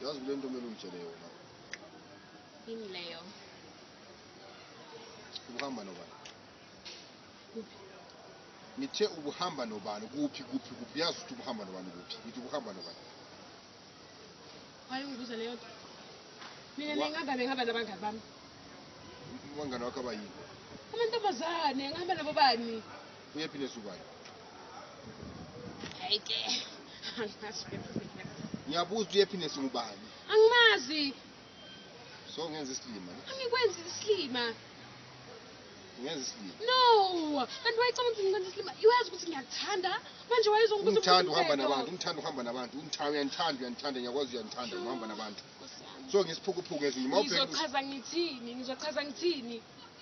yazi kule nto kumele ungitshele yona yini leyo ubuhamba nobani kuphi ngithe ubuhamba nobani kuphi kuphi kuphi yazi ukuthi ubuhamba nobani kuphi ngithi ubuhamba nobani wayengibuza leyo nto mina bengihamba bengihamba nabangani bami abangani wakho abayini amantombazane ngihamba nabo bani Uyephi lesukayo? Hayi ke. Angazi. Ngiyabuza uyephi nesingubani? Angimazi. So ngenza isilima. Angikwenzi isilima. Ngenza isilima. No. Kanti wayecabanga ukuthi ngikwenza isilima. Iwazi ukuthi ngiyakuthanda. Manje wayezongibuza ukuthi ngithanda uhamba nabantu, ngithanda uhamba nabantu. Ungithanda uyanithanda, uyanithanda, ngiyakwazi uyanithanda uhamba nabantu. So ngisiphukuphuku ezinye. Ngizochaza ngithini? Ngizochaza ngithini?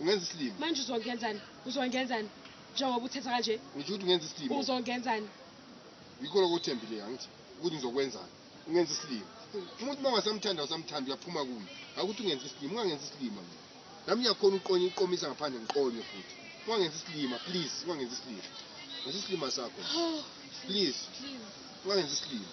ungenza isilima manje uzongenzani uzongenzani njengoba uthetha kanje ngisho ukuthi ungenza isilima uzongenzani yikho lokho uthembile angithi ukuthi ngizokwenzani ungenza isilima umuntu uma ungasamthanda usamthanda uyaphuma kuye akuthi ungenza isilima ungangenza isilima mina nami ngiyakhona uqonye iqomisa ngaphandle ngiqonye futhi ungangenza isilima please ungangenza isilima ngenza isilima sakho please ungangenza isilima